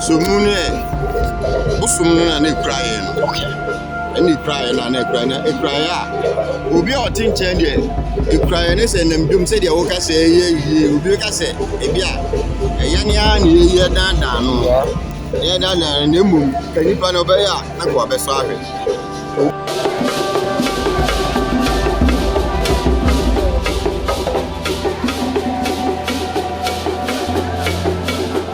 So mu no ɛ bosom no na na ekura yɛn no ɛna ekura yɛn na na ekura na ekura yɛ a obi a ɔte nkyɛn deɛ ekura yɛn ne sɛ nam dwom sɛdeɛ wɔka sɛ ɛyɛ yie obi bɛka sɛ ebi a ɛyɛ ne ara na ɛyɛ yie ɛdaadaa no ɛyɛ daadaa no na mmom ka nipa no ɔbɛyɛ a na ka wabɛsɔ ahwɛ.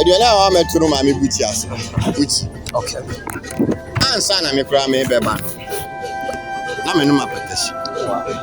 aduane a wɔamɛto no maame bu ti ase bu ti okay ansa na me koraa mebɛba no na menom apɛtɛhye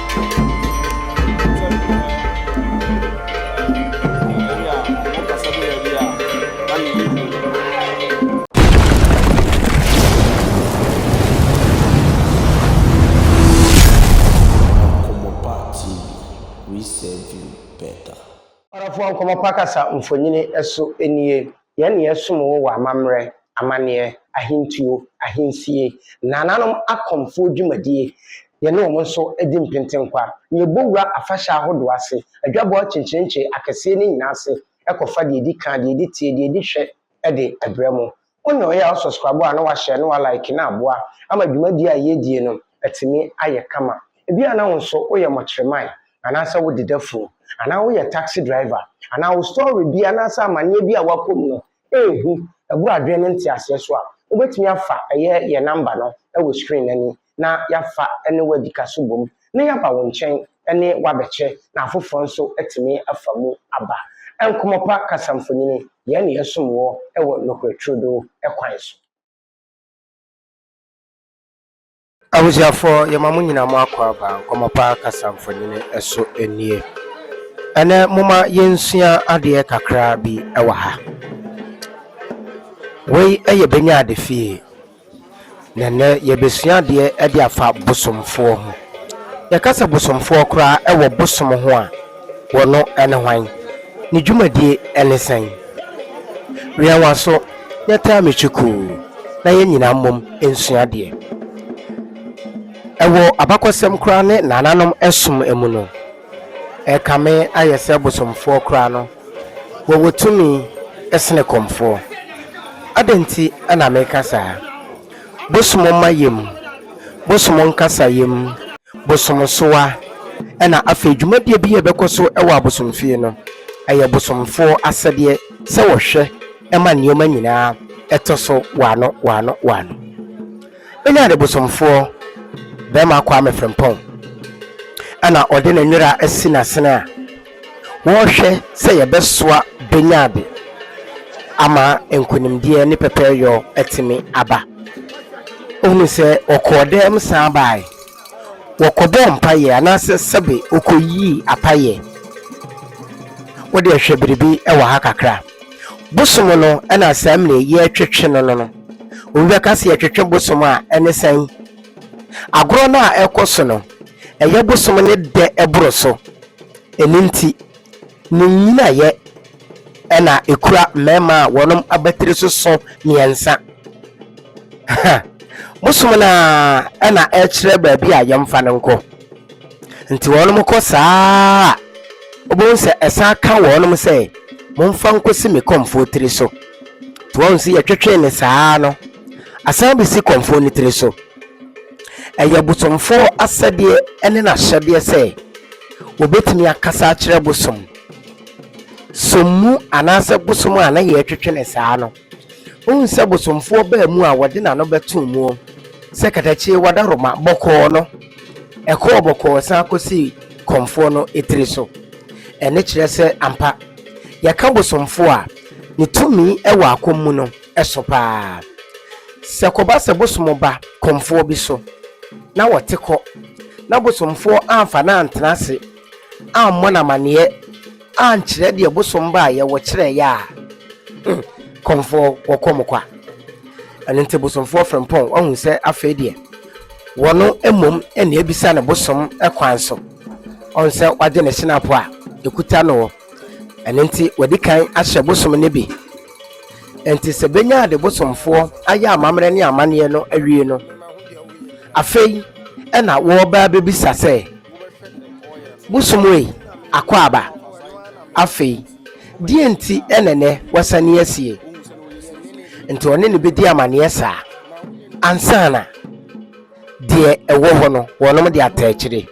Nkɔmmɔ Pa Kasa mfonini so nie. Yɛn na yɛsom wo wɔ amammerɛ, amanneɛ, ahentuo, ahensie, nananom akɔmfoɔ dwumadie, yɛne wɔn nso di mpentenkwa, na yɛbɔ wura afahyɛ ahodoɔ ase, adwabɔ akyenkyerenkye akɛseɛ no nyinaa ase, kɔfa deɛ ɛdi kan, deɛ ɛdi tie, deɛ ɛdi hwɛ de brɛ mo. Wo na ɔyɛ a wo sɔskrabo a na wahyɛ na wa like no aboa ama dwumadie a yɛredie no atumi ayɛ kama. Ebia na wo nso woyɛ mɔkyerɛman anaasɛ wode da funu, anaa woyɛ taksi driver, anaa wo store bi anaasɛ amanneɛ bi a woakɔ mu no yɛ hu. Bɔ adwene ne nteaseɛ so a, wobɛtumi afa ɛyɛ yɛn namba no wɔ screen no ani na yɛafa ne wo adi ka so bom na yɛaba wo nkyɛn ne wo abɛkyɛ na afoforɔ nso atumi afa mu aba. Nkɔmmɔ Pa Kasamfonini, Yɛn na yɛsom woɔ wɔ nokorɛ turodoo kwan so. Abusuafoɔ yɛma mo nyina mo akwaaba nkɔmmɔ pa kasa mfonini so nie. Ɛnɛ moma yɛnsua adeɛ kakra bi wɔ ha. Wei yɛ bɛnya ade fie. Na ɛnɛ yɛbɛsua adeɛ de afa bosomfoɔ ho. Yɛkasɛ bosomfoɔ koraa wɔ bosom ho a, Wɔno ne hwan? Ne dwumadie ne sɛn? Wɛn w'aso na taa me kyukuu na yɛn nyinaa mmom nsua deɛ. Ɛwɔ abakɔsɛm koraa ne nananom som mu no, ɛrekame ayɛ sɛ bosomfoɔ koraa no, wɔwɔ tumi sene kɔmfoɔ. Adɛn nti na mereka saa? Bosom mma yam, bosom nkasa yam, bosomsoa, ɛna afei dwumadie bi a ɛbɛkɔ so wɔ abosomfie no, ɛyɛ bosomfoɔ asɛdeɛ sɛ wɔhwɛ ma nneɛma nyinaa ɛtɔ so waano waano waano. Ɛna de bosomfoɔ bɛrima Kwame Frimpong ɛna ɔde ne nwera asi n'asene a, Wɔhwɛ sɛ yɛbɛsoa bɛnya ade ama nkonimdie ne pɛpɛɛyɔ atumi aba. Wohunu sɛ wɔkɔɔ dɛm san baae, wɔkɔbɔɔ mpaeɛ anaasɛ sɛbe wɔkɔyii apaeɛ. Wodeɛ hwɛ biribi wɔ ha kakra. Bosom no na saa mine yɛretwetwe no no no. Obi bɛka sɛ yɛtwetwe bosom a ɛne sɛn? Agorɔ no a ɛkɔ so no. Ɛyɛ bosom ne dɛ ɛboro so. Ɛno nti, ne nnyinaeɛ na ɛkura mmarima a wɔn abatiri so sõ mmiɛnsa. Ha! Bosom no ara na ɛkyerɛ baabi a yɛmfa no nkɔ. Nti wɔn kɔ saa ara a, wobɛhu sɛ ɛsan ka wɔn sɛ, Momfa nkɔsi me kɔmfoɔ tiri so. Nti wɔn sɛ yɛtwetwee no saa ara no, asan bɛsi kɔmfoɔ no tiri so. Ɛyɛ ɔbosomfoɔ asɛdeɛ ne n'ahyɛdeɛ sɛ wɔbɛtumi akasa akyerɛ bosom som mu anaasɛ bosom a na yɛretwetwe ne saa no. Wohu sɛ bosomfoɔ baa mu a wɔde n'ano bɛto mu sɛ katakyie wada Roma bɔkɔɔ no, ɛkɔɔ bɔkɔɔ san kɔsi kɔmfoɔ no tiri so. Ɛne kyerɛ sɛ ampa yɛka bosomfoɔ a ne tumi wɔ akɔm mu no, so pa ara. Sɛ ɛkɔba sɛ bosom ba kɔmfoɔ bi so na ɔte kɔ na bosomfoɔ amfa no antena ase ammɔ no amanneɛ ankyerɛ deɛ bosom baeɛ wɔkyerɛeɛ a, hmm, kɔmfoɔ wɔkɔ mo kwa. Ɛno nti bosomfoɔ frempɔn wahu sɛ afei deɛ wɔno mmom ɛne abisa ne bosom kwan so ɔn sɛ wagye ne hyenapo a ɛkuta no Ɛno nti wɔadi kan ahyɛ bosom no bi. Enti sɛ benya de bosomfoɔ ayɛ amammerɛ ne amanneɛ no awie no, afei ɛna wɔreba abɛbisa sɛ, Bosom ei, akwaaba, afei deɛn nti na ɛnnɛ woasane asie? Nti ɔne no bɛdi amanneɛ saa ansa na. Deɛ ɛwɔ hɔ no, wɔnom de atɛɛkyere.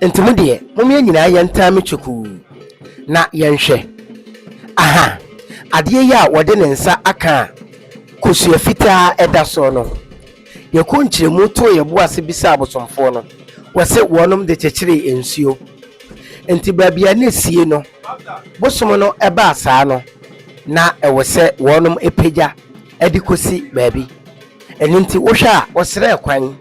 Nti mo deɛ, mom yɛn nyinaa yɛntaa me kyekuu, na yɛnhwɛ. Aha! Adeɛ yi a wɔde ne nsa aka a kosua fitaa ɛda soɔ no, yɛkɔɔ nkyerɛmu too yɛn bo ase bisaa abosomfoɔ no, wɔse wɔnom de kyekyeree nsuo. Nti baabi a na ɛsie no, bosom no ɛbaa saa no, na ɛwɔ sɛ wɔnom pagya de kosi baabi. Ɛno nti wohwɛ a wɔsrɛɛ kwan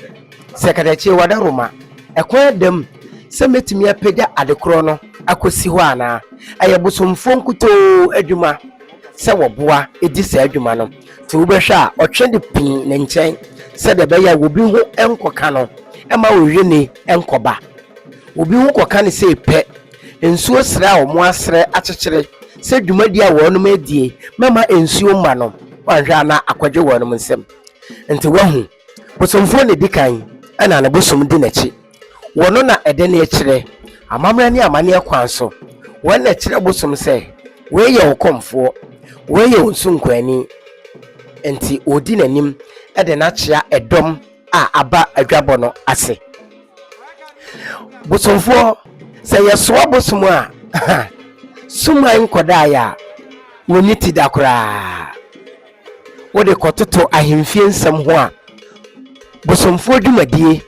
sɛ katakyie wɔda Roma. Ɛkwan da mu sɛ mɛtumi apagya adekorɔ no akɔsi hɔ anaa? Ɛyɛ bosomfoɔ nkutoo adwuma sɛ wɔboa di saa adwuma no. Nti wobɛhwɛ a ɔtwe de pii ne nkyɛn sɛdeɛ ɛbɛyɛ a obi ho nkɔka no ma ɔwie ni nkɔba. Obi ho kɔka no sɛ pɛ. Nsuo serɛ a wɔn asrɛ akyekyere sɛ dwumadie a wɔn adie mɛma nsuo mma no wanhwɛ a na akɔdwe wɔn nsam. Nti wahu, bosomfoɔ na ɛdi kan ɛna ne bosom di n'akyi. Wɔn na ɛde no kyerɛ amammerɛ ne amanneɛ kwan so. Wɔn na ɛkyerɛ bosom sɛ wei yɛ wo kɔmfoɔ, wei yɛ wo nsunkuani. Nti wɔdi n'anim de no akyea ɛdɔm a aba adwabɔ no ase. bosomfoɔ sɛ yɛsoa bosom a suman nkɔdaeɛ a wɔnni ti da koraa wode kɔtoto ahemfie nsɛm ho a bosomfoɔ dwumadie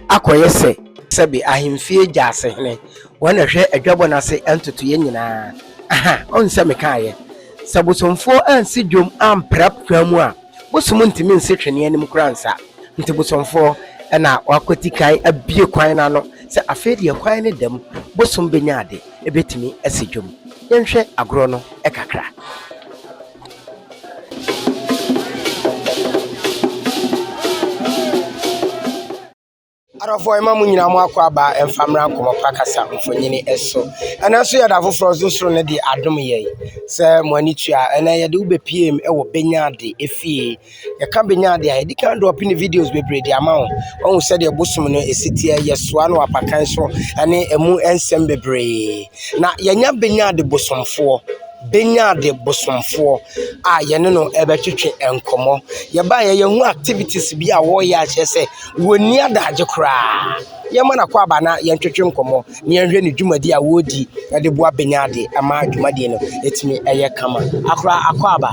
akɔyɛ sɛ sɛbe ahemfie gyasehene wɔn na hwɛ adwabɔ no ase ntotoeɛ nyinaa aha ɔn sɛ mekaeɛ sɛ bosomfoɔ ansi dwom ampra kwan mu a Bosom ntumi nse twene anim koraa nsa. Nti bosomfoɔ na wɔakwati kan abue kwan no ano sɛ afei deɛ kwan no da mu, bosom bɛnya ade, ɛbɛtumi asi dwam. Yɛnhwɛ agorɔ no kakra. Adɔfoɔ yɛma mo nyinaa mo akɔ aba mfa mmra nkɔmɔ pa kasa mfonyini ɛso ɛnɛ nso yɛda foforɔ nso soro no de adom yɛn sɛ mo ani tua ɛnɛ yɛde wo bɛpiem ɛwɔ bɛnyaade efie yɛka bɛnyaade a yɛde kan dɔɔpe ne videos bebree de ama wo ɔhu sɛdeɛ bosom no ɛsiteɛ yɛsoa no apakan so ɛne ɛmu nsɛm bebree na yɛnya bɛnyaade bosomfoɔ bɛnyaade bosomfoɔ a yɛne no ɛbɛtwetwe nkɔmɔ yɛba yɛyɛ ho activities bi a wɔyɛ akyerɛ sɛ Wɔnni adagye koraa. Yɛmma no akwaaba na yɛntwetwe nkɔmmɔ na yɛnhwɛ ne dwumadi a wɔredi de boa Benyade ma dwumadie no ɛtumi ɛyɛ kama. Akora akwaaba.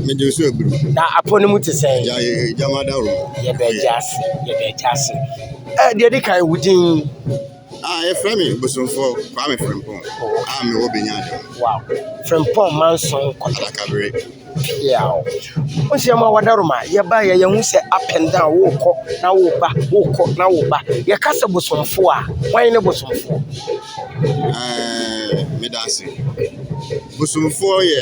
Mede nso abiri. Na apɔ no mu te sɛ. Gya gya ma da wɔ. Yɛbɛ gya ase yɛbɛ gya ase. Ɛ deɛ di kan wo din. Ah, yɛfrɛ me Bosomfoɔ Kwame Frimpong a mewɔ Benyada. Wow. Frimpong Manson Kɔtɔ. Adakabere. Yaw. Wo sɛ ma wɔda Roma, yɛba yɛ yɛn ho sɛ up and down, wokɔ na woba, wokɔ na woba. Yɛka sɛ Bosomfoɔ a, wɔn ne Bosomfoɔ. Ɛɛ, meda ase. Bosomfoɔ yɛ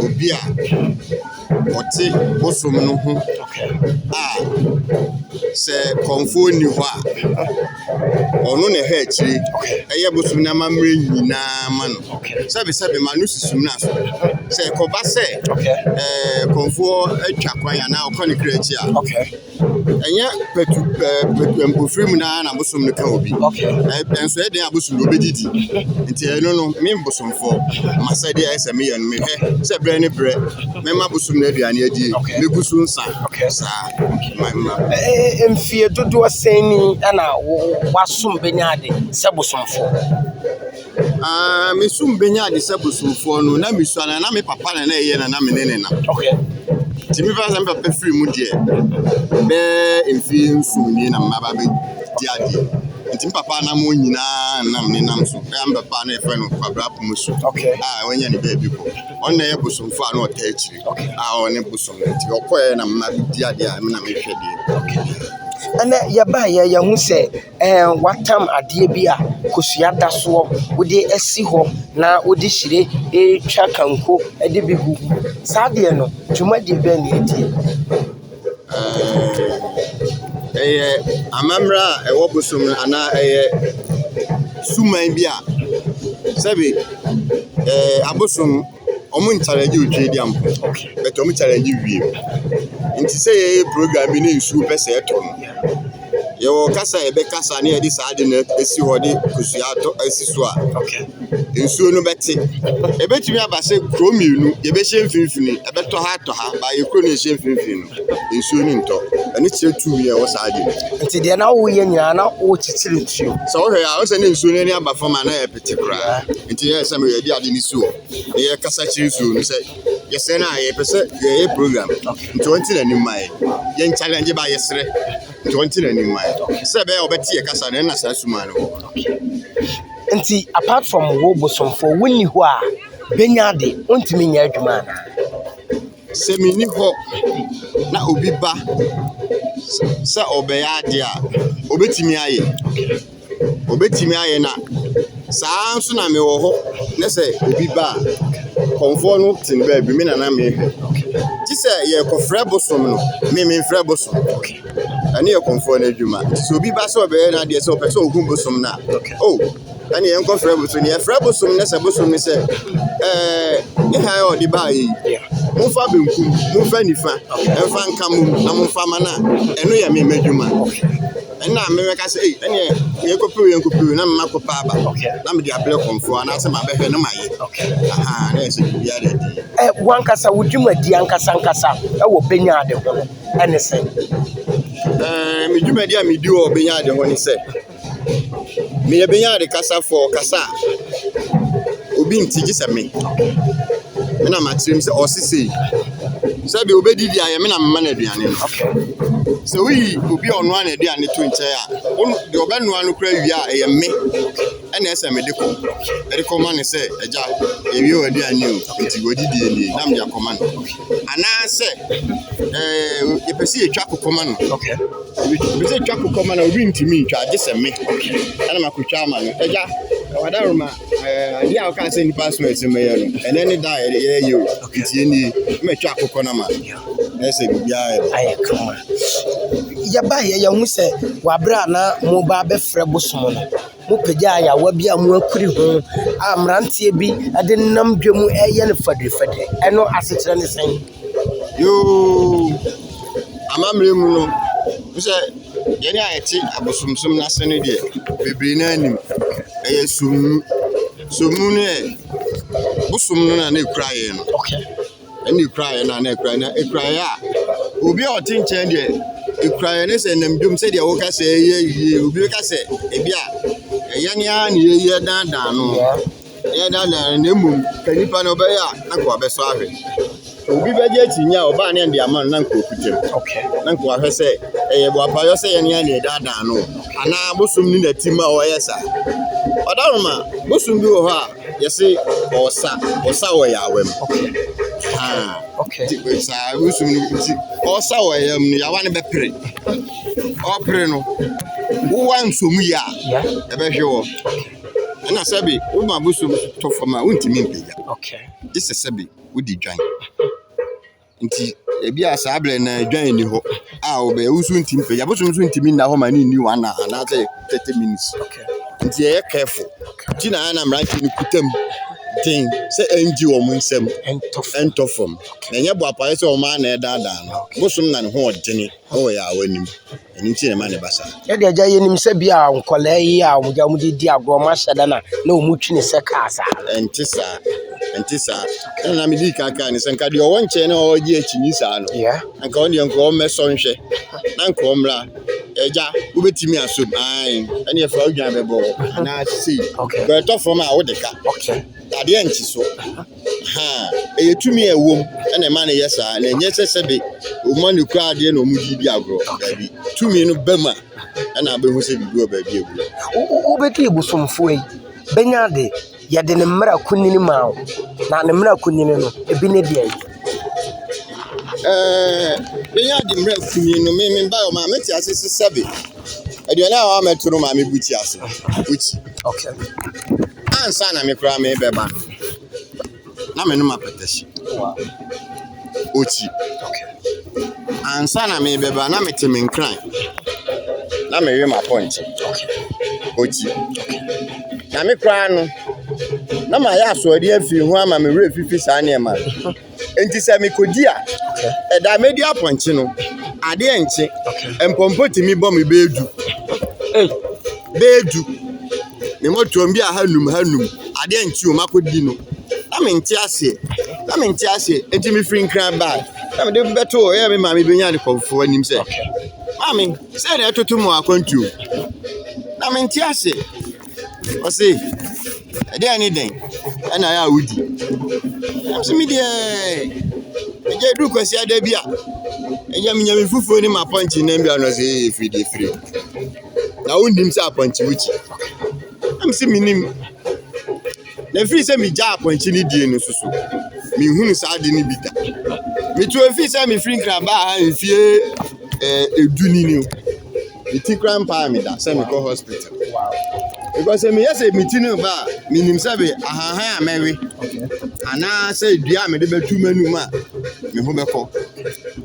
obi a. wɔte bosom no ho a sɛ kɔmfoɔ nni hɔ a, ɔno na ɛhwɛ akyire ɛyɛ bosom no amammerɛ nyinaa ma no. Sɛbesɛbe ma no susu mmra so. Sɛ ɛkɔba sɛ ɛɛ kɔmfoɔ atwa kwan anaa ɔkɔ ne kra akyi a, ɛnyɛ patu ɛɛ patu mpofiri mu naa na bosom no ka obi ɛnso ɛyɛ den a bosom no obi didi nti ɛno no me bosomfoɔ masɛdeɛ ɛyɛ sɛ meyɛ no mehwɛ sɛ berɛ ne berɛ mɛma bosom no aduane adie megu so nsa saa ma ma. mfie dodoɔ sɛn ni ɛna wasom bɛnya ade sɛ bosomfoɔ. Ah, me so mbenya ade sɛ bosomfoɔ no, na misua na na me papa na na ɛyɛ na na me ne ne na. Okay. Nti me papa sɛ me papa firi mu deɛ, bɛɛ mfie nson nie na mma ba bɛ di adeɛ. Nti me papa nam wɔn nyinaa nam ne nam so. Ɛyɛ me papa na yɛfrɛ no Kwabra Pomusu. Okay. Ah, wɔnyɛ ne baabi kɔ. Ɔno na ɛyɛ bosomfoɔ a na ɔta akyiri. Okay. Ah, ɔne bosom no. Nti ɔkɔɛ na mma bɛ di adeɛ a me na mehwɛ deɛ. Okay. Ɛnɛ yɛbaeɛ yɛhu sɛ Ɛɛ w'atam adeɛ bi a kosua da soɔ wode asi hɔ na wode hyire retwa kanko de bi gu mu. Saa adeɛ no dwumadie bɛn na ɛdie? Ɛɛ ɛyɛ amammerɛ a ɛwɔ bosom no anaa ɛyɛ suman bi a sɛbe ɛɛ abosom. ɔmo nkyalengye otwa edi ampe bɛt ɔmo kyalengye wiem. Nti sɛ yɛyɛ program bi ne nsuo pɛ sɛ ɛtɔ no, yɛwɔ kasa a yɛbɛkasa ne yɛde saa ade no esi hɔ de kosua atɔ esi so a nsuo no bɛte. Ebetumi aba sɛ kuro mmienu yɛbɛhyɛ mfimfini, ɛbɛtɔ ha atɔ ha, baa yɛ kuro na ɛhyɛ mfimfini no nsuo no ntɔ. Ɛno kyerɛ tumi a ɛwɔ saa ade no mu. Nti deɛ na woyɛ nyinaa na wokyekyere nsuo. Sɛ wohwɛ a, wohu sɛ na nsuo no ani aba fam a na ɛyɛ. te koraa nti na ɛsɛ sɛ meyɛ de ade no si hɔ na yɛkasa kyerɛ nsuo no sɛ yɛsrɛ no a yɛpɛ sɛ yɛyɛ program nti ɔnte n'anim ma yɛ yɛn challenge ba yɛsrɛ nti ɔnte n'anim ma yɛ sɛ ɛbɛyɛ ɔbɛte yɛ kasa no ɛna saa suma no wɔ nti apart from wo bosomfoɔ wonni hɔ a bɛnya ade ɔntumi nyɛ adwuma anaa sɛ menni hɔ na obi ba sɛ ɔbɛyɛ adeɛ a ɔbɛtumi ayɛ Wɔbɛtumi ayɛ na saa ara nso na mewɔ hɔ na sɛ obi ba a, kɔmfoɔ no te ne baabi, me na na mehwɛ. Gye sɛ yɛrekɔfrɛ bosom no, me memfrɛ bosom. Ɛno yɛ kɔmfoɔ no adwuma. Sɛ obi ba sɛ ɔbɛyɛ n'adeɛ sɛ ɔpɛ sɛ ɔhu bosom no a, o, ɛne yɛnkɔfrɛ bosom no. Yɛfrɛ bosom no na sɛ bosom no sɛ, ɛɛ, ne hann a ɔde baeɛ yi, momfa benkum, momfa nifa mfa nka mmom na momfa mma no a, ɛno yɛ me m'adwuma. Nna mebɛka sɛ ei ɛneɛ yɛnkɔpir yɛnkɔpir na mema kɔpɛ aba na mede abrɛ kɔmfoɔ anaasɛ mabɛhwɛ na mayɛ ahaa na ɛsɛ biribiara de adi. Ɛ wankasa wo dwumadi ankasa ankasa wɔ Benya Ade ho no ɛne sɛn? Ɛ me dwumadi a medi wɔ Benya Ade ho ne sɛ meyɛ Benya Ade kasafoɔ kasa a obi nte gye sɛ me. Me na makyerɛ mu sɛ ɔse sei. Sɛdeɛ ɔbɛdi deɛ ayɛ me na mema no aduane no. Sɛ woyi obi a ɔnoa n'aduane to nkyɛn a, deɛ ɔbɛnoa no koraa wie a, ɛyɛ me na ɛsɛ mede kɔ. Mede kɔma no sɛ, agya, yɛwie w'aduane o, nti w'adidie nie na mede akɔma no. Anaasɛ ɛɛ yɛpɛ sɛ yɛtwa kokɔma no. Yɛpɛ sɛ yɛtwa kokɔma no a, obi ntumi ntwa gye sɛ me na makɔtwa ama no. Agya, ɔwɔ adaworoma. Eh, adeɛ a woka sɛ nnipa so ɛsɛ mɛyɛ no ɛnɛ ne da a ɛyɛ yɛ o ntie nie mɛtwa akokɔ no ma na ɛsɛ biribiara ayɛ kama yɛbaeɛ yɛhu sɛ waberɛ a na moba abɛfrɛ bosom no mopagyaa yɛawa bi a moakuri ho a mmeranteɛ bi de nam dwa mu ɛyɛ no fadrifadri ɛno asekyerɛ ne sɛn Yoo, amammerɛ mu no, wo sɛ yɛn a yɛte abosonsom no ase no deɛ, bebree no ara nim. Ɛyɛ sum. Sum no yɛ bosom no na na ɛkura yɛn no. Okay. Ɛna ɛkura yɛn na na ɛkura yɛn na ɛkura yɛn a, obi a ɔte nkyɛn deɛ, ɛkura yɛn ne sɛ nam dwom sɛdeɛ woka sɛ ɛyɛ yie. Obi ka sɛ ebi a, ɛyɛ ne ara na yɛyɛ dandan no. Yeah. Ɛnyɛ na na na mmom ka nipa no ɔbɛyɛ a na nkoa bɛsɔ ahwɛ. Obi bɛgye akyinnye a ɔbaa ne ɛde ama no na nkoa kutam. Na nkoa hwɛ sɛ ɛyɛ boapayɔ sɛ yɛne yɛn na ɛdaadaa no anaa bosom ne nati ma ɔyɛ saa. Ɔdawoma, bosom bi wɔ hɔ a yɛse ɔsa, ɔsa wɔ yawa mu. Haa. Okay. Saa bosom no nti ɔsa wɔ yawa mu no yawa no bɛpere. Ɔpere no, wowa nsomu yɛ a ɛbɛhwe wɔ. Ɛna sɛbi woba abosom tɔ fam a wontumi mpagya. Gye sɛ sɛbi wodi dwan. Nti ebi a saa berɛ na dwan nni hɔ a wobɛyɛ wo nso ntumi mpagya. Abosom nso ntumi nna hɔ ma ne nni one hour anaasɛ thirty minutes. Nti yɛyɛ careful. Nti na ana mmeranteɛ no kuta mu den sɛ ɛngye wɔn nsam ɛntɔ fam. Na ɛnyɛ boapayɛ sɛ wɔn ara na ɛdaadaa no. Bosom na ne ho ɔdene. Ɔwɔ yɛ a wɔnim. Ɛno nti na ɛma ne ba saa. Sɛdeɛ agya yɛnim sɛ bi a nkwadaa yi a wɔn agya wɔn de di agorɔ wɔn ahyɛ da na na wɔn twi ne sɛ kaa saa. Ɛnte saa. Ɛnte saa. Ɛna na medi kan kaa ne sɛ nka deɛ ɔwɔ nkyɛn na ɔwɔ gye akyi saa no. Yeah. Nka wɔn deɛ nka wɔn mɛsɔ nhwɛ. Na nka wɔn mmra. Ɛgya wobɛtumi aso mu. Ae. Ɛne ɛfa wodwan bɛbɔ hɔ. Anaa sei. Okay. Bɛtɔ fam a wode ka. Okay. Adeɛ nkye so. ha a, ɛyɛ tumi a ɛwom na ɛma no yɛ saa, na ɛnyɛ sɛ sɛbe wɔma no kura adeɛ na wɔde di agorɔ. Daabi, tumi no ba mu a, ɛna abɛhu sɛ biribi wɔ baabi a ɛwura. Wobɛdi abosomfoɔ yi bɛnya ade, yɛde ne mmara kunini maa wo, na ne mmara kunini no, ebi ne deɛ. Ɛɛ, bɛnya ade mmara kunini no, me me ba ɔma mete ase sɛ sɛbe. Aduane a wɔamɛto no maame bu ti ase. Bu ti. Okay. Ansa na me koraa mebɛba no, na menom apɛtɛhye. Wow. Oti. Okay. Ansa na mebɛba na mete me nkran. Na mewe m'apɔnkye. Okay. Oti. Okay. Na me koraa no, na mayɛ asoɔden afi ho ama me werɛ fifi saa nneɛma no. Nti sɛ mekɔdi a, ɛda a mɛdi apɔnkye no, adeɛ nkye. Mpɔmpɔ tumi bɔ me bɛyɛ du. Bɛyɛ du. Me mɔtoɔ bi a ha num ha num. Adeɛ nkye o, makɔdi no. Na mente aseɛ. Na mente aseɛ. Nti mefiri nkran baa. Na mede bɛto hɔ. Ɛyɛ me maame bɛnya ne kɔmfoɔ anim sɛ, maame, sɛ na ɛtoto mu akwantuo. Na mente aseɛ. Ɔse, ɛdeɛn ne dɛn na ɛyɛ a wodi? Nam se, medeɛ agya ɛduru kwasiada bi a, agya menya me fufuo ne m'apɔnkye nam bi a, ɔse ee firi deɛ firi. Na wonnim sɛ apɔnkye wokyi? Nam se, mennim. Na ɛfiri sɛ megyaa apɔnkye no die no so so, menhunu saa ade no bi da. Metu ɛfiri sɛ mefiri Nkrabaa ha mfie ɛɛ edu ni no. me ti kora mpaa me da sɛ mekɔ hospital because sɛ meyɛ sɛ me ti no ba a menim sɛ be ahahan a mɛwe anaasɛ dua a mede bɛtu m'anum a me ho bɛkɔ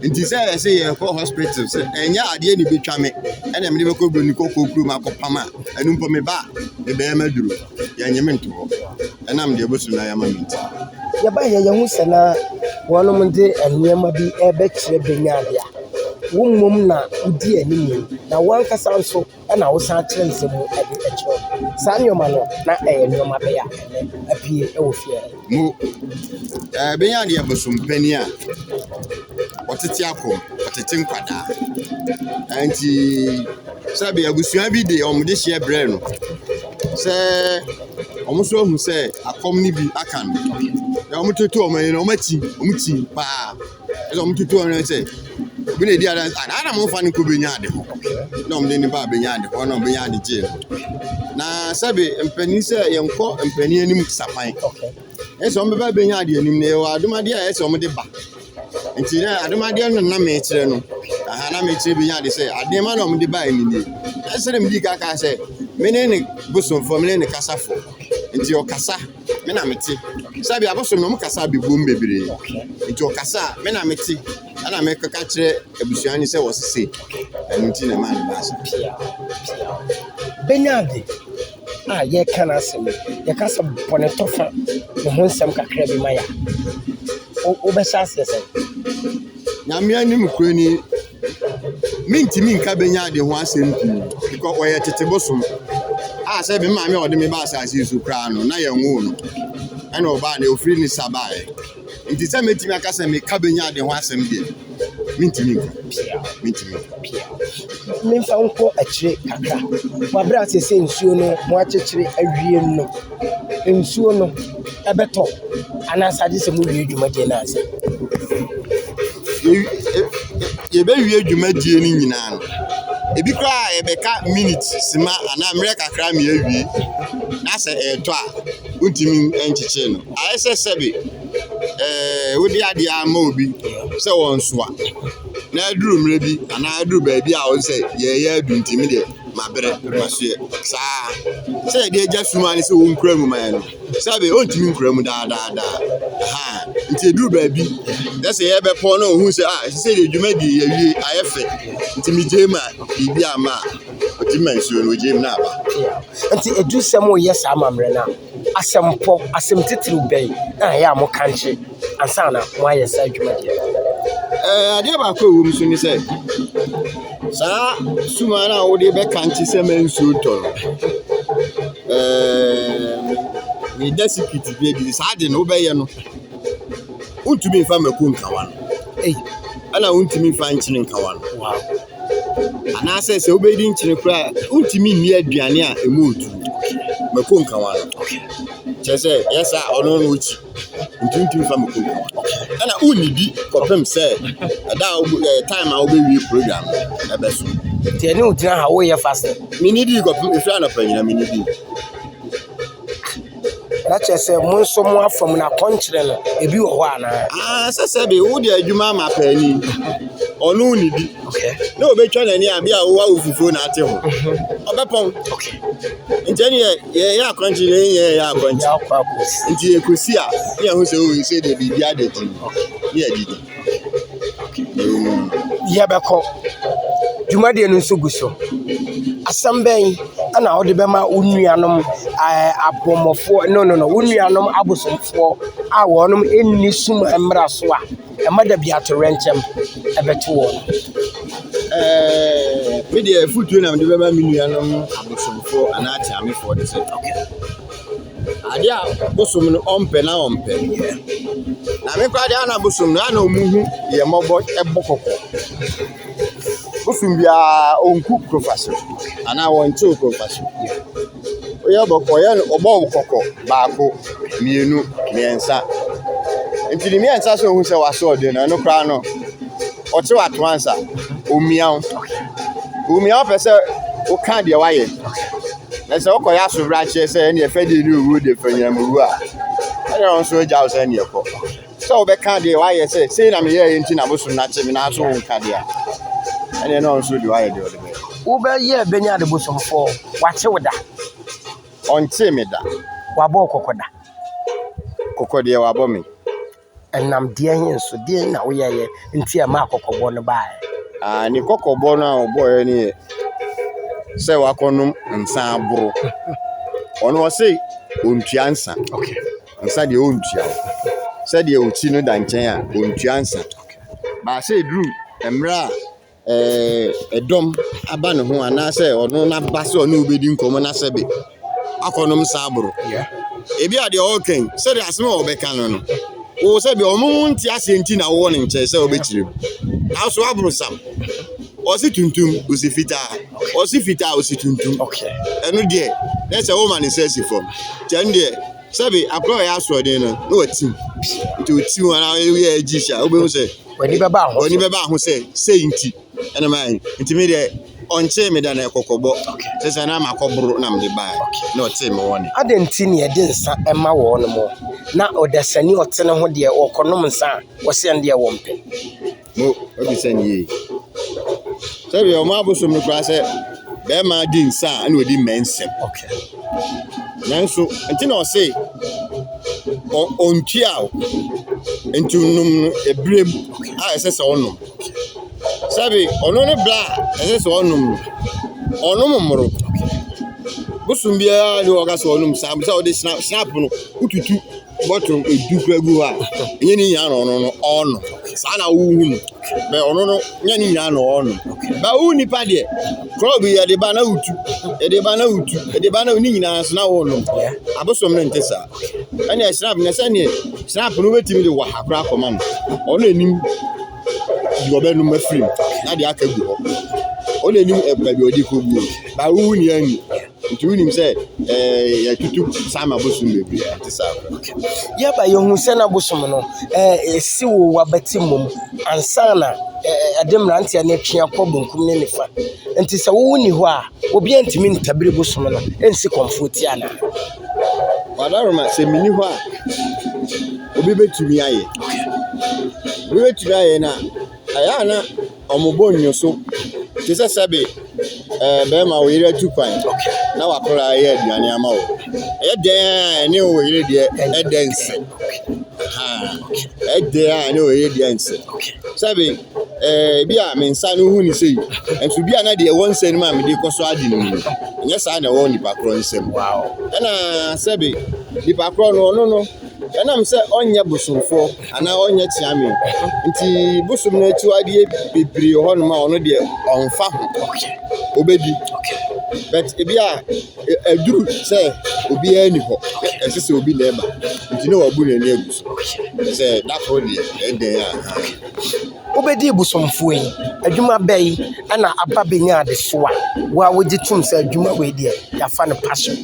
nti sɛ yɛsɛ yɛkɔ hospital sɛ ɛnyɛ adeɛ ne bɛtwa me ɛna mede bɛkɔ broni kɔkɔɔ kurom akɔpam a ɛno mpo me ba a mebɛyɛ maduro Yɛnnye me nto hɔ, ɛnam deɛ bosom no ayɛ ama me nti. Yɛbaeɛ yɛhu sɛ na wɔnom de nneɛma bi rebɛkyerɛ Benyaade a, wo mmom na wodi anim na wo ankasa nso na wosan kyerɛ nsɛm mu de kyerɛ. Saa nneɛma no, na ɛyɛ nneɛma bɛyɛ a ɛnnɛ apue wɔ fie ha yi. Mo eh benya deɛ bosompanin a ɔtete akɔ ɔtete nkwadaa nti sɛbi abusua bi de wɔn de hyeɛ brɛ no sɛ wɔn nso ahu sɛ akɔm no bi aka no na wɔtoto wɔn ani no wɔn akyi wɔn kyi paa. ɛna wɔn tutu wɔn sɛ obi na edi adansi a na wɔn fa no kɔ benya ade hɔ na wɔn de ne ba benya ade hɔ na wɔn benya ade gye na sɛbi mpanyin sɛ yɛn kɔ mpanyin anim sapan ɛsɛ wɔn bɛba benya ade anim na ɛwɔ adomadeɛ a ɛsɛ wɔn de ba nti na adomadeɛ no na mɛ kyerɛ no aha na mɛ kyerɛ benya ade sɛ adeɛ ma na wɔn de ba ɛni nie ɛsɛ na mi di kaka sɛ mene ne bosomfoɔ mene ne kasafo nti ɔkasa. me na mete sɛbi abosom na ɔmo kasa abɛbom bebree nti ɔkasa a me na mete ɛna mekeka kyerɛ abusua ne sɛ wɔse se ɛno nti na ɛmaa ne baa saa. pia pia o bɛnya ade a yɛka no asɛm yi yɛka sɛ bɔne tɔ fa ne ho nsɛm kakra bi ma yɛ a wobɛhyɛ aseɛ sɛ nyame anim kuro ni Mintumi nka Benyan de ho asɛm pii because ɔyɛ tete bosom a sɛ me maame a ɔde me baa asase yi so koraa no na yɛnwoo no. Ɛna ɔbaa no ofiri ne sa baeɛ. Nti sɛ mɛtumi aka sɛ meka Benyan de ho asɛm deɛ, mentumi nka. Mentumi nka. Memfa nkɔ akyire kakra. Wɔabrɛ a seesei nsuo no wɔakyekyere awie no. nsuo no bɛtɔ anaa sɛ agye sɛ mowie dwumadie no ansa? yɛbɛwie dwumadie no nyinaa no, ebi koraa a yɛbɛka minute sima anaa mmerɛ kakra ma yɛawie na sɛ ɛretɔ a, wontumi nkyekyere no. Ayɛ sɛ sɛbe ɛɛ wode adeɛ ama obi sɛ wɔnsoa na aduru mmerɛ bi anaa aduru baabi a wo sɛ yɛreyɛ adu nti me deɛ. mabrɛ, masoɛ, saa ara. Sɛ yɛde agya sum ara ne sɛ ɔnkura mu ma yɛn no, sɛbe ɔntumi nkura mu daa daa daa. Aha, nti ɛduru baabi, yɛ sɛ yɛbɛpɔn na ɔhu sɛ, ah, ɛsɛ sɛ yɛ dwuma di yɛwie, ayɛ fɛ. Nti megyae mu a, biribi amma a, ɔtumi ma nsuo no, ɔgyae mu na aba. Nti adurusɛm reyɛ saa amammerɛ no a. Asɛmpɔ, asɛm titiriw bɛn na ɛyɛ a mokankye ansa na moayɛ saa dwumadi no? Ɛɛ, adeɛ baako a ɛwɔ mu so ne sɛ, saa suma no a wode bɛkankye sɛ ma nsuo ntɔ no, ɛɛ, meda sikiriti bi adi saa de no wobɛyɛ no, wontumi mfa mako nkawa no, ɛna wontumi mfa nkyene nkawa no. Anaasɛ sɛ wobɛdi nkyene koraa a, wontumi nni aduane a ɛmu ntu. Mako nkawa no. Kyerɛ sɛ, ɛyɛ saa a, ɔno no ɔkyi. Ntumi ntumi fa mako nkawa. Ɛna wonnidi kɔpem sɛ ɛda a wobɛ ɛɛ time a wobɛwie program no ɛbɛso. Nti ɛne wo gyina ha woyɛ fasting. Menni di kɔpem ɛfiri anɔpa nyina menni di. Na kyerɛ sɛ mo nso mo afam no akɔnkyerɛ no ebi wɔ hɔ anaa. aa sɛ sɛ de wode adwuma ama paani ɔno ne bi na ɔbɛtwa n'ani a bi a wowɔ wo fufuo na ate ho ɔbɛpɔn nti ɛne yɛ yɛyɛ akɔnkye na ɛnyɛ yɛyɛ akɔnkye nti yɛkɔsi a ne yɛho sɛ wei sɛ deɛ biribi adagyi ne yɛdidi Yɛbɛkɔ. Dwumadie no nso gu so. Asɛm bɛn na wode bɛma wo nuanom ɛɛ abɔmmɔfoɔ no no no wo nuanom abosomfoɔ a wɔnom nni sum mmara so a ɛma dabi atoyerɛnkyɛm bɛto wɔn? Ɛɛɛ me deɛ afotuo na mede bɛma me nuanom abosomfoɔ anaa kyeamefoɔ ne sɛ. Ade a bosom no ɔmpɛ no ara ɔmpɛ. Na me koraa deɛ a na bosom no a na wɔhu yɛn mmɔbɔ bɔ kɔkɔ. Bosom biara ɔnku koroka so anaa ɔnkyew koroka so. Woyɛ bɔ ɔyɛ no ɔbɔ wo kɔkɔ baako, mmienu, mmiɛnsa. Nti ne mmiɛnsa so ɔhu sɛ w'asoɔden no ɛno koraa no ɔkye w'ato ansa. Ɔmmia wo. Ɔmmia wo pɛ sɛ woka deɛ woayɛ. Na sɛ wokɔyɛ asobrakyeɛ sɛ ɛne ɛfɛdie ne owuo de fanyam wu a ɛne ɔno nso agya wo sɛ ne ɛkɔ sɛ wobɛka deɛ woayɛ sɛ sei na meyɛɛ nti na bosom no akye me nanso wonka deɛ a ɛne ɛne ɔno nso de woayɛ deɛ ɔde bɛyɛ wobɛyɛ bɛnya ade bosomfoɔ wakye wo da ɔnkyee me da wabɔ kɔkɔ da kɔkɔ deɛ wabɔ me Ɛnam deɛn nso, deɛn na woyɛeɛ nti a ɛmaa kɔkɔbɔ no baeɛ? Ah, ne kɔkɔbɔ no a ɔbɔeɛ no yɛ sɛ wakɔnom nsa aboro. Ɔno ɔse ɔntua nsa. Okay. Nsa deɛ ɔntua. Sɛdeɛ ɔti no da nkyɛn a, ɔntua nsa. Baasɛ ɛduru mmerɛ a. ɛɛ dɔm aba ne ho anaasɛ ɔno n'aba sɛ ɔne wo bɛdi nkɔmmɔ na sɛbe akɔnom saaboro. Ebi a deɛ ɔreka yi, sɛdeɛ asɛm a ɔbɛka no no, wo sɛbe wɔn nte aseɛ nti na wowɔ ne nkyɛn sɛ wobɛkyerɛ mu. Nanso aborɔsam, ɔse tuntum, ɔse fitaa, ɔse fitaa, ɔse tuntum. Ɛno deɛ, na sɛ woma ne nsa si fam. Nti ɛno deɛ, sɛbe akora a ɔyɛ asoɔden no, na watim. Nti ɔtim anaa ɔyɛ agyihyi a, wobɛhu sɛ. W'ani bɛba ho so. W'ani bɛba ho sɛ sei nti ɛna maa yi nti mi deɛ ɔnkyee mi da na ɛkɔkɔbɔ sɛ sɛ na ama kɔboro na mede baa na ɔtee mi wɔne. Adɛn nti na yɛde nsa ɛma wɔn mo na ɔdasani ɔte ne ho deɛ ɔkɔnom nsa a wɔsɛ ɛn deɛ wɔn pɛ. Mo ebi sɛ ne yie sɛdeɛ wɔn abosom no koraa sɛ. bɛrima di nsa a ɛna ɔdi mmɛ nsɛm okay nanso nti na ɔse ɔntua o nti nom no ebire mu a ɛsɛ sɛ ɔnom sɛbi ɔno ne bla a ɛsɛ sɛ ɔnom no ɔnom mmoro bosom biara ne ɔka sɛ ɔnom saa sɛ ɔde snap no wotutu bottle du kura gu hɔ a, ɛnyɛ ne nyinaa na ɔno no ɔrenom. Saa na wohu no. Bɛ ɔno no, nyɛ ne nyinaa na ɔrenom. Bɛ wo nipa deɛ, kɔɔ bi yɛde ba na wotu, yɛde ba na wotu, yɛde ba na ne nyinaa nso na worenom. Abosom no nte saa. Ɛne ɛsrap no sɛneɛ srap no wobɛtumi de waha koraa akɔma no. Ɔno na nim deɛ ɔbɛnom afiri mu na deɛ aka agu hɔ. Ɔno na nim baabi a ɔde kɔguo. Bɛ wohu nea nni. Nti wonim sɛ ɛɛ yɛtutu saa ma bosom bebree ɛte saa. Yɛba yɛhu sɛ na bosom no ɛɛ esi wo wabati mmom ansana ɛɛ ɛde mmeranteɛ no atwe akɔ benkum ne nifa. Nti sɛ wowo ni hɔ a obiara ntumi ntabiri bosom no ɛnsi kɔmfoɔ ti anaa. Wadaroma sɛ mini hɔ a obi betumi ayɛ obi betumi ayɛ na ɛyɛ a na. Wɔbɔ nnwoso te sɛ sɛbe barima a ɔyere atu kwan na wakora ayɛ aduane ama wo. Ɛyɛ dɛn a ɛne wo yere deɛ ɛdɛ nsɛ. Ɛyɛ dɛn a ɛne wo yere deɛ nsɛ. Sɛbe ɛɛ bi a me nsa no ho ni sei, nso bi a na deɛ ɛwɔ nsa no mu a mede kɔ so adi no mu no, ɛnyɛ saa na ɛwɔ nipa korɔ nsam. Ɛna sɛbe nipa korɔ no ɔno no. Ɛnam sɛ ɔnyɛ bosomfoɔ anaa ɔnyɛ kyeame nti bosom no akyiwadeɛ bebree wɔ hɔnom a ɔno deɛ ɔmfa ho ɔbɛdi but ebi a ɛduru sɛ obiara ni hɔ ɛsɛ sɛ obi na ɛba nti na wabu n'ani agu so sɛ da koro deɛ ɛdɛn a wobɛdi bosomfoɔ yi adwuma bɛ yi ɛna aba bɛnya adesoa wo a wogye tom sɛ adwuma wei deɛ yɛafa no passion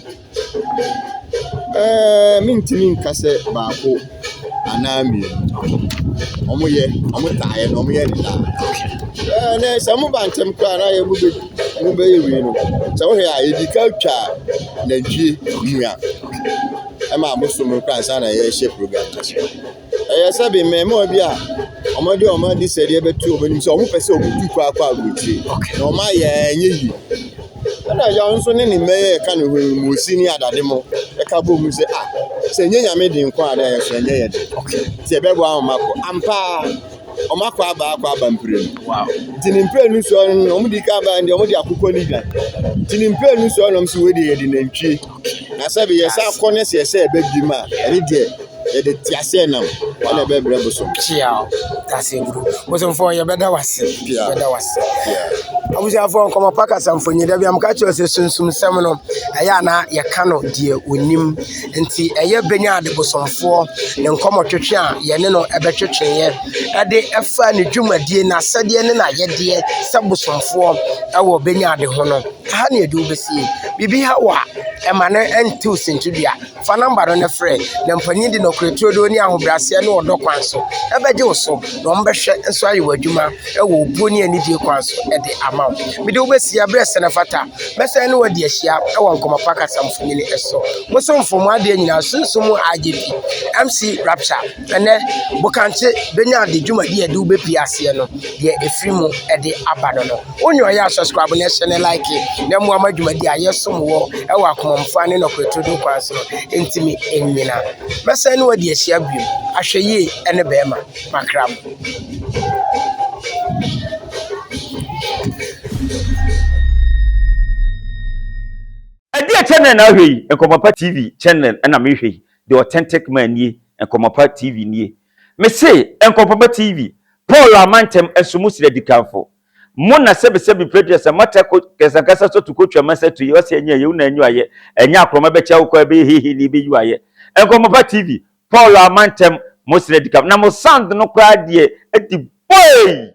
Ɛɛɛɛɛ mentumi nka sɛ baako anaa mmienu. Wɔyɛ, wɔtaa yɛ na wɔyɛ no daa. Ɛɛ na sɛ moba ntɛm koraa a na ayɛ a mobɛ mobɛyɛ wei no. Sɛ wohwɛ a yɛdi kan twa nantwie mua ma abosom no koraa ansa na yɛhyɛ program no ase. Ɛyɛ sɛ bi mmɛɛmoa bi a ɔmo de ɔmo adesrɛdeɛ bɛto ɔmo anim sɛ ɔmo pɛ sɛ ɔmo tu kɔ akɔ aburokyire na ɔmo ayɛ a ɛnyɛ yie. Ɛna yaw nso ne ne mma yi a ɛka ne ho yi mmuusi ne adade mo ɛka bɔ mu sɛ ah sɛ ɛnyɛ nyame de nko a na yɛso ɛnyɛ yɛde nti ɛbɛboa wɔn akɔ ampa ara. Wɔn akɔ aba akɔ aba mprenu. Wow. Nti ne mprenu so no na wɔn di kan ba deɛ wɔn de akokɔ ne dwan. Nti ne mprenu so nom so wei deɛ yɛde nantwie. Na sɛbi yɛsɛ akɔ ne sɛ yɛsɛ ɛbɛ bi mu a ɛne deɛ yɛde te aseɛ nam ɛna ɛbɛ brɛ bosom. Kyeaw tase guru bosomfo yɛbɛda wase yɛbɛda wase. Abusuafo nkɔmɔ pa kasa mfonyi dabi amka kyerɛ sɛ sunsum sɛm no ɛyɛ ana yɛka no deɛ onim. Nti ɛyɛ Benyaad bosomfoɔ ne nkɔmɔtwetwe a yɛne no bɛtwetweeɛ de faa ne dwumadie, n'asɛdeɛ ne n'ayɛdeɛ sɛ bosomfoɔ wɔ Benyaad ho no. Ɛha ne yɛde wo bɛsie. Biribi ha wo a, ɛma no ntew sintidua. Fa nɔmba no na frɛ. Na mpanyin de nɔkorɛ turodoo ne ahobrɛaseɛ ne ɔdɔ kwan so bɛgye wo so, na wɔbɛhwɛ nso ayɛ wo adwuma wɔ obuo ne anidie kwan so de ama wo. Mede wo bɛsie berɛ sɛ no fata. Mɛsan ne wo adi ahyia wɔ Nkɔmmɔ Pa Kasa Mfonini so. Mo somfo, mo adeɛ nyinaa sunsum mu IGP, MC Rapture. Ɛnnɛ, Bokankye bɛnya de dwumadi a ɛde wo bɛpie aseɛ no, deɛ ɛfiri mu de aba no no. Wo nea ɔyɛ a, subscribe na hyɛ ne like na mmoa ma dwumadi a yɛsom wɔ wɔ akomamfoɔ ne nɔkorɛ turodoo kwan so no ntumi nnyina. Mɛsan ne wo adi ahyia bio. Ahwɛyie ne bɛrima. Makra mu. Ɛdeɛ channel na ahwɛ yi? Nkɔmɔpa TV channel na mehwɛ yi, the authentic man nie, Nkɔmɔpa TV nie. Mese Nkɔmɔpa TV, Paul a mantam nso mo srɛ dikanfo. Mo na sɛbi sɛbi preduɛ sɛ mata ko kɛsankasa sɔ tu ko twɛ mɛsɛ tu yɛ ɔsɛ ɛnyɛ ɛyɛ una ɛnyuayɛ ɛnyɛ akorɔma bɛkyɛ awokɔ ɛbɛyɛ hehe ni bɛyuayɛ. Nkɔmɔpa TV, Paul amma ntɛm, mo srɛ di kan, na mo sand no koraa deɛ di bɔɔii.